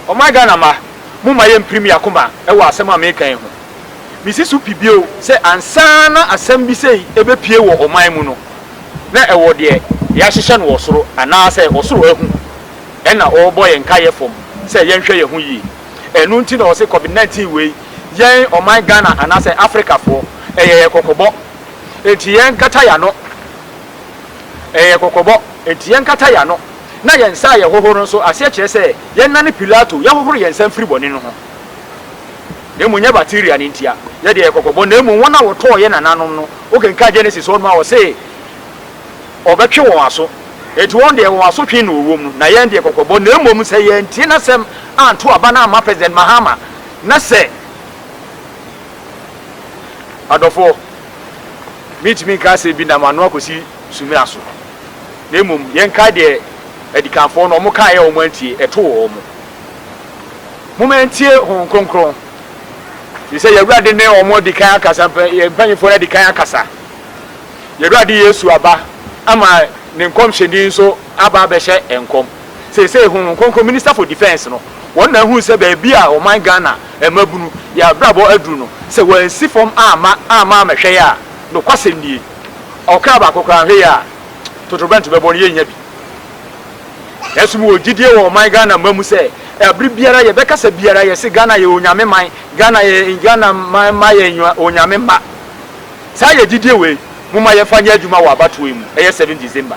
Ɔman Ghana mma, momma yɛmpirim yɛn akoma wɔ asɛm a mereka yi ho. Mesi so pi bio sɛ ansa na asɛm bi sei bɛpue wɔ ɔman mu no, na ɛwɔ deɛ yɛahyehyɛ no wɔ soro anaasɛ ɔsoro ahu na ɔrebɔ yɛn nkaeɛ fam sɛ yɛnhwɛ yɛn ho yie. Ɛno nti na wɔse Covid 19 wei, yɛn ɔman Ghana anaasɛ Afrikafoɔ, ɛyɛ yɛn kɔkɔbɔ. Enti yɛnkata yɛn ano. Ɛyɛ kɔkɔbɔ, enti yɛnkata yɛn ano na yɛn nsa a yɛhohoro nso aseɛ kyerɛ sɛ yɛnnane Pilato, yɛhohoro yɛn nsa mfiri bɔne no ho. Na mmom nyɛ bakteria no ntia yɛde yɛ kɔkɔbɔ, na mmom wɔn a wɔtɔɔ yɛn nananom no, wokenkan Genesis hɔ nom a, ɔse ɔbɛtwe wɔn aso. Enti wɔn deɛ wɔn asotwe na ɔwom no, na yɛn deɛ kɔkɔbɔ, na mmom sɛ yɛantie n'asɛm anto aba no amma President Mahama, na sɛ adɔfoɔ. Mintumi nka asɛm bi nam ano akosi sumina so, na mmom yɛnkae deɛ adikanfoɔ no wɔkaeɛ a wɔantie, ɛtoo wɔn. Momma yɛntie Honhom Kronkron, ɛfiri sɛ yɛn Awurade ne wɔn adi kan akasa, yɛn mpanimfoɔ no adi kan akasa. Yɛn Awurade Yesu aba ama Ne nkɔmhyɛni nso aba abɛhyɛ nkɔm. Seesei Honhom Kronkron Minister for Defence no, wɔn na ahunu sɛ baabi a ɔman Ghana mmabunu yɛ abrabɔ aduru no, sɛ wɔansi fam amma amma ammɛhwɛeɛ a, nokwasɛm nie, ɔkra baako koraa nhwɛeɛ a, totorobɛnto bɛbɔ no, yɛnnya bi. Nanso mewɔ gyidie wɔ ɔman Ghana mma mu sɛ, ɛbere biara a yɛbɛkasa biara, yɛse Ghana yɛ Onyame man, Ghana yɛ, Ghana man mma yɛ Onyame mma. Saa yɛ gyidie wei, momma yɛmfa nyɛ adwuma wɔ abatoɔ yi mu, ɛyɛ 7 December.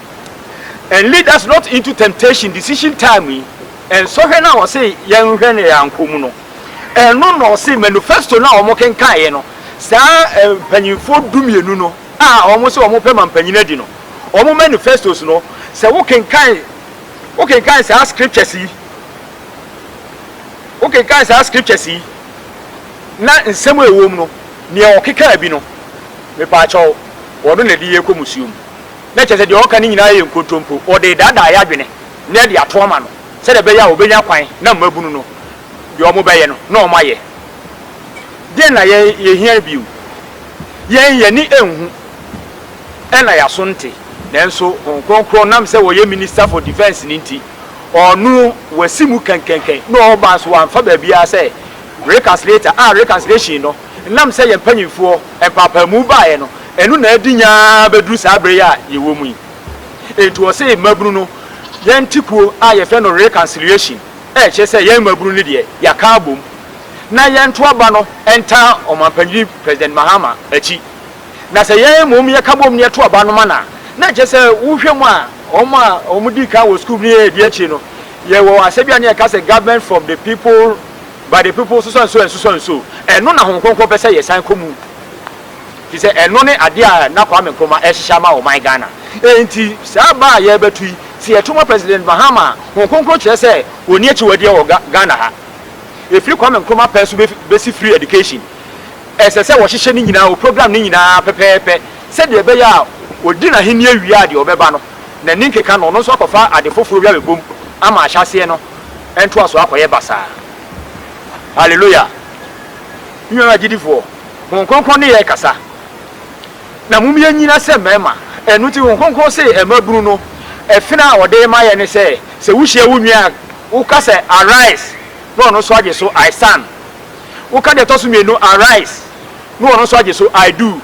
And lead us not into temptation, decision time yi, nsɔhwɛ no a ɔse yɛnhwɛ na yɛankɔ mu no, ɛno na ɔse manufesto no a wɔkenkaeɛ no, saa mpanyimfoɔ dumienu no a wɔse wɔpɛ ma mpanyin adi no, wɔn manufestos no, sɛ wokenkan, wokenkan saa scriptures yi, wokenkan saa scriptures yi, na nsɛm a ɛwɔ mu no, nea ɔkekaa bi no, mepaakyɛw, ɔno na ɛde yɛn kɔ musuo mu. na kyerɛ sɛ deɛ ɔreka no nyinaa yɛ nkontompo, ɔde redaadaa yɛn adwene na de ato ama no sɛdeɛ ɛbɛyɛ a ɔbɛnya kwan na mmabunu no deɛ wɔbɛyɛ no na wɔayɛ. Deɛn na yɛhia bio? Yɛn ani nhu na yɛaso nte, nanso Honhom Kronkron nam sɛ ɔyɛ Minister for Defence no nti, ɔno wasi mu kɛnkɛnkɛn na ɔreba nso wamfa baabiara sɛ reconciliator a reconciliation no Ɛnam sɛ yɛn mpanimfoɔ mpaapaamu baeɛ no, ɛno na adi nya ara bɛduru saa berɛ yi a yɛwɔ mu yi. Enti ɔse mmabunu no, yɛn te kuo a yɛfrɛ no Reconciliation ɛrekyerɛ sɛ yɛn mmabunu no deɛ yɛaka abom na yɛnto aba no ntaa Ɔmanpanin President Mahama akyi. Na sɛ yɛn mmom yɛka bom na yɛto aba no ma no a, na ɛkyerɛ sɛ wohwɛ mu a wɔn a wɔdii kan wɔ sukuu mu no yɛ ɛdeɛ akyire no, yɛwɔ asɛ bi a na yɛka sɛ Government from the people, But the people susua nsuo ansusua nsuo ɛno na Honhom Kronkron pɛ sɛ yɛsan kɔ mu firi sɛ ɛno ne adeɛ a na Kwame Nkrumah ɛrehyehyɛ ama ɔman Ghana enti saa ba a yɛrebɛto yi sɛ yɛto ma President Mahama a Honhom Kronkron kyerɛ sɛ ɔnni akyiwadeɛ wɔ Ghana ha ɛfiri Kwame Nkrumah pɛn so bɛsi free education ɛsɛ sɛ wɔhyehyɛ ne nyinaa wɔ program no nyinaa pɛpɛɛpɛ sɛdeɛ ɛbɛyɛ a ɔdi n'ahennie wie a deɛ ɔbɛba no n'ani nkeka no ɔno nso akɔfa ade foforɔ bi abɛbom ama ahyɛaseɛ no ɛntoa so akɔyɛ basaa. Hallelujah! Me nuanom agyidifoɔ, Honhom Kronkron ne yɛn rekasa. Na mom yɛnyina sɛ mmarima. Ɛno nti Honhom Kronkron se mmabunu no, ɛfena a ɔde rema yɛn ne sɛ, sɛ wohyia wo nua a, woka sɛ, Arise! Na ɔno nso agye so, I stand. Woka deɛ ɛtɔ so mmienu, Arise! Na ɔno nso agye so, I do.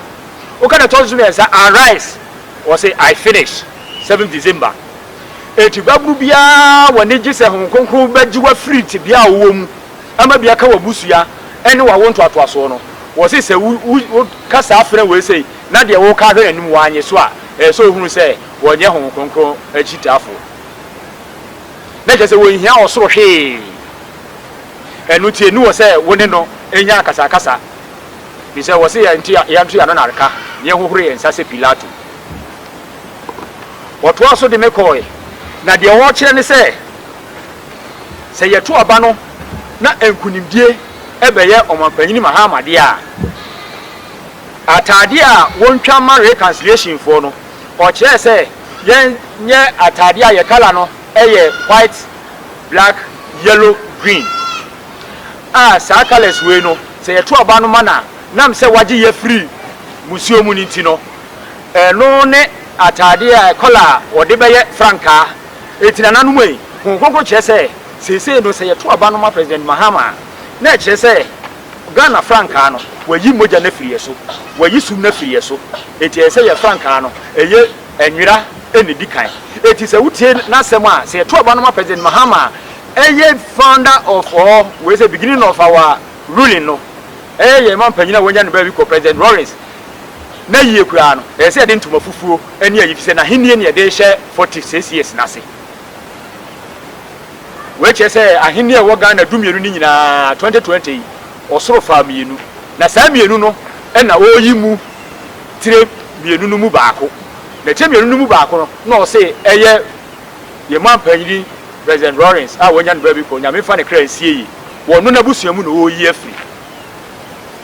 Woka deɛ ɛtɔ so mmiɛnsa, Arise! Ɔse, I finish. Seventh December. Enti babunu biara a w'ani gye sɛ Honhom Kronkron bɛgye wo afiri tebea a wowɔ mu ama bi aka w'abusua ne w'awo ntoatoasoɔ no, wɔse sɛ wo wo wo ka saa frɛ wei sei na deɛ woka ahwɛ n'anim wannye so a, ɛsɛ sɛ ɔhunu sɛ wɔnyɛ Honhom Kronkron akyitaafoɔ. Na kyerɛ sɛ wɔnhia ɔsoro hwee. Ɛno nti ɛni hɔ sɛ wo ne no nya akasakasa. Ɛfiri sɛ wɔse yɛn nto yɛn ano na reka, na yɛhohoro yɛn nsa sɛ Pilato. Wɔtoaa so de me kɔe, na deɛ wɔrekyerɛ ne sɛ, sɛ yɛto aba no na nkunimdie bɛyɛ Ɔmanpanyin Mahama deɛ a, ataadeɛ a wɔntwa mma Reconciliationfoɔ no, ɔkyerɛɛ sɛ yɛnyɛ ataadeɛ a yɛ colour no yɛ white, black, yellow, green a saa colours wei no, sɛ yɛto aba no ma no a, nam sɛ wɔagye yɛn afiri musuo mu no nti no, Ɛno ne atade a kɔla a wɔde bɛyɛ frankaa ti nananom yi. Honhom Kronkron kyerɛ sɛ seesei no sɛ yɛto aba no ma President Mahama a, na ɛkyerɛ sɛ Ghana frankaa no, wɔayi mogya no afiri yɛn so, wɔayi sum no afiri yɛn so. Enti ɛyɛ sɛ yɛn frankaa no, ɛyɛ nwera na ɛdi kan. Enti sɛ wotie n'asɛm a, sɛ yɛto aba no ma President Mahama a, ɛyɛ founder of or wei sɛ beginning of our ruling no. Ɛyɛ yɛn ma mpanyin a wɔanya no baabi kɔ President Rawlings. na yiye koraa no, ɛsɛ sɛ yɛde ntoma fufuo ne ayi, efisɛ n'ahenni na yɛde rehyɛ forty six years no ase. Wei kyerɛ sɛ ahenni a ɛwɔ Ghana du mmienu no nyinaa, twenty twenty yi, ɔsoro faa mmienu, na saa mmienu no na ɔreyi mu tire mmienu no mu baako, na tire mmienu no mu baako no na ɔse ɛyɛ yɛn manpanyini President Rawlings a wɔanya no baabi kɔ, Onyame mfa ne kra nsie yie, wɔno n'abusua mu na ɔreyi afiri,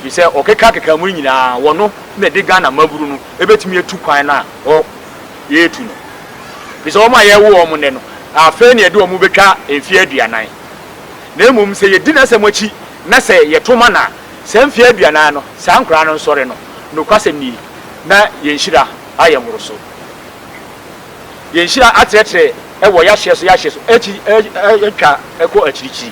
Firi sɛ ɔkekakeka mu no nyinaa wɔno na ɛde Ghana maburu no ɛbɛtumi atu kwan no a ɔ yɛretu no. Firi sɛ wɔn a yɛrewo wɔn nnɛ no afei na yɛde wɔn bɛtwa mfeɛ aduanan. Na mmom sɛ yɛdi n'asɛm akyi na sɛ yɛto mana a saa mfeɛ aduanan no saa nkoraa no nsɔre no, nokwasɛm nie, na yɛn nhyira ayɛ mmoroso. Yɛn nhyira atrɛtrɛ wɔ yɛahyeɛ so yɛahyeɛ so akyi atwa kɔ akyirikyiri.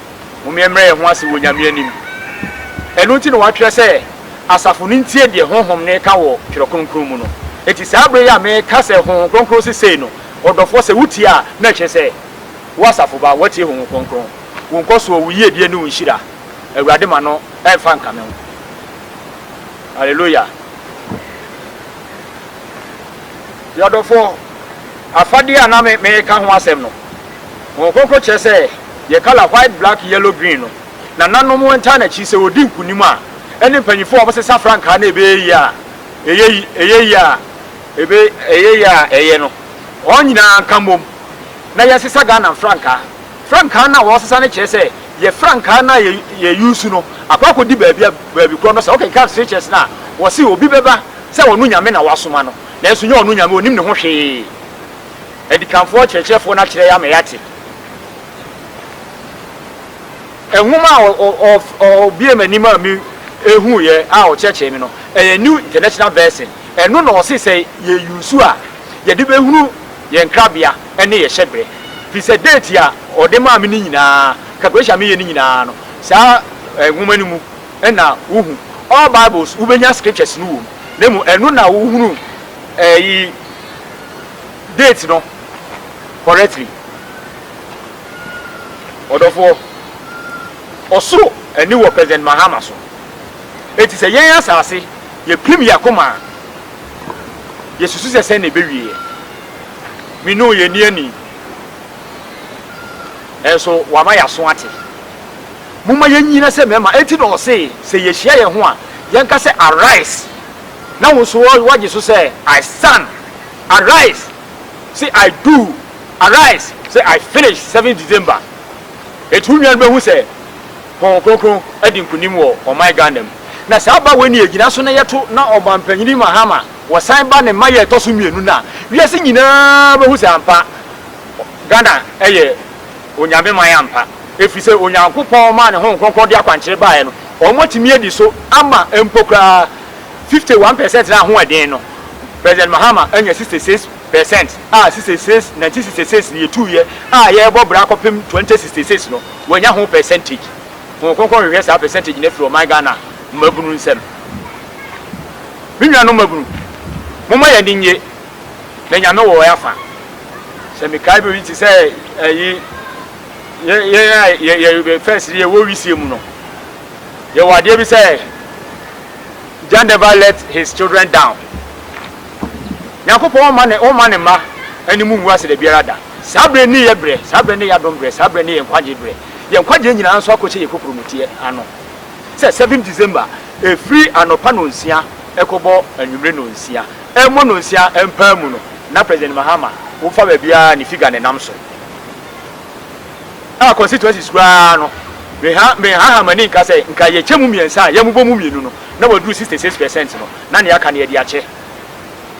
Momyɛmmrɛ yɛn ho ase wɔ Nyame anim. Ɛno nti na wɔatwerɛ sɛ, Asafo no ntie deɛ Honhom no reka wɔ Twerɛ Kronkron mu no. Enti saa berɛ yi a mereka sɛ Honhom Kronkron se sei no, ɔdɔfoɔ, sɛ wotie a, na ɛkyerɛ sɛ, wo asafo ba, woatie Honhom Kronkron. Wo nkɔsoɔ, wo yiedie ne wo nhyira, Awurade ma no mfa nkame wo. Hallelujah. Yɛadɔfoɔ, afadeɛ a na mereka ho asɛm no, Honhom Kronkron kyerɛ sɛ yɛ colour white, black, yellow, green no nananom ntaa n'akyi sɛ ɔdi nkunim a ɛne mpanyinfoɔ a wɔsesa frankaa na ɛbɛyɛ yie a ɛyɛ ɛyɛ yie a ɛbɛ ɛyɛ yie a ɛyɛ no wɔn nyinaa nka mmom na yɛnsesa Ghana frankaa frankaa no a wɔsesa no kyerɛ sɛ yɛ frankaa no a yɛ yɛ use no akɔ akɔdi baabi a baabi korɔ no sɛ wokenkan scriptures no a wɔse obi bɛba sɛ ɔno nyame na wasoma no nanso nyɛ ɔno nyame ɔnim ne ho hwee Adikanfoɔ kyerɛkyerɛfoɔ no akyerɛ yɛn ama yɛate. Nwoma a ɔbuee m'anim a mehuuiɛ a ɔkyerɛkyerɛɛ me no, ɛyɛ New International Version. Ɛno na ɔse sɛ yɛ use a, yɛde bɛhunu yɛn krabea ne yɛn hyɛberɛ. Firi sɛ date a ɔde maa me no nyinaa, calculation a meyɛ no nyinaa no, saa nwoma no mu na wohu. All Bibles, wobɛnya scriptures no wɔ mu, na mmom ɛno na wohunu. Eh yi date no correctly ɔdɔfoɔ. Ɔsoro ani wɔ President Mahama so. Enti sɛ yɛn asase yɛ pim yɛn akoma a, yɛ susu sɛ sɛn na ɛbɛwie yɛ. Me ne wo yɛ nni ani. Nanso wama yɛaso ate. Momma yɛn nyina sɛ mɛma. Enti na ɔsee sɛ yɛhyia yɛn ho a, yɛn ka sɛ arise. na wo nso woagye so sɛ, I stand, arise, se I do, arise, se I finish seventh December. Enti wo nua no bɛhu sɛ Honhom Kronkron adi nkonim wɔ ɔman Ghana mu. Na saa ba wei na yɛgyina so na yɛto na Ɔmanpanin Mahama wɔsan ba ne mayɛ ɛtɔ so mmienu no a, wiase nyinaa bɛhu sɛ ampa Ghana yɛ Onyame man ampa. Ɛfiri sɛ Onyankopɔn maa ne Honhom Kronkron de akwankyerɛ baeɛ no, wɔatumi adi so ama mpo koraa. Fifty one percent na ahoɔden no President Mahama anya sixty six percent a sixty six nineteen sixty six ne yɛtuiɛ a yɛrebɔ bra kɔpem twenty sixty six no wanya ho percentage Honhom Kronkron hwehwɛ saa percentage no afiri ɔman Ghana mmabunu nsam Me nuanom mmabunu momma yɛn ani nnye na Nyame wɔ yɛn afa Sɛ mekae bere bi te sɛ ayi yɛn a yɛyɛ first no yɛwɔ wisie mu no Yɛwɔ adeɛ bi sɛ Jah never let his children down. Nyankopɔn ɔmma ne ɔmma ne mma anim ngu ase da biara da. Saa berɛ ne yɛ berɛ, saa berɛ ne yɛ adom berɛ, saa berɛ ne yɛ nkwagyeɛ berɛ. Yɛ nkwagyeɛ nyinaa nso akɔhyɛ yɛ kokuromutiɛ ano sɛ seventh December ɛfiri anɔpa nɔnsia ɛkɔbɔ anwummere nɔnsia. Ɛmmɔ nɔnsia mpaa mu no na President Mahama wofa baabiara ne figure nenam so. a constituencies koraa no, menhaha m'ani nka sɛ nka yɛkyɛ mu mmiɛnsa a yɛmobɔ mu mmienu no na wɔaduru 66 percent no na nea aka no yɛde akyɛ.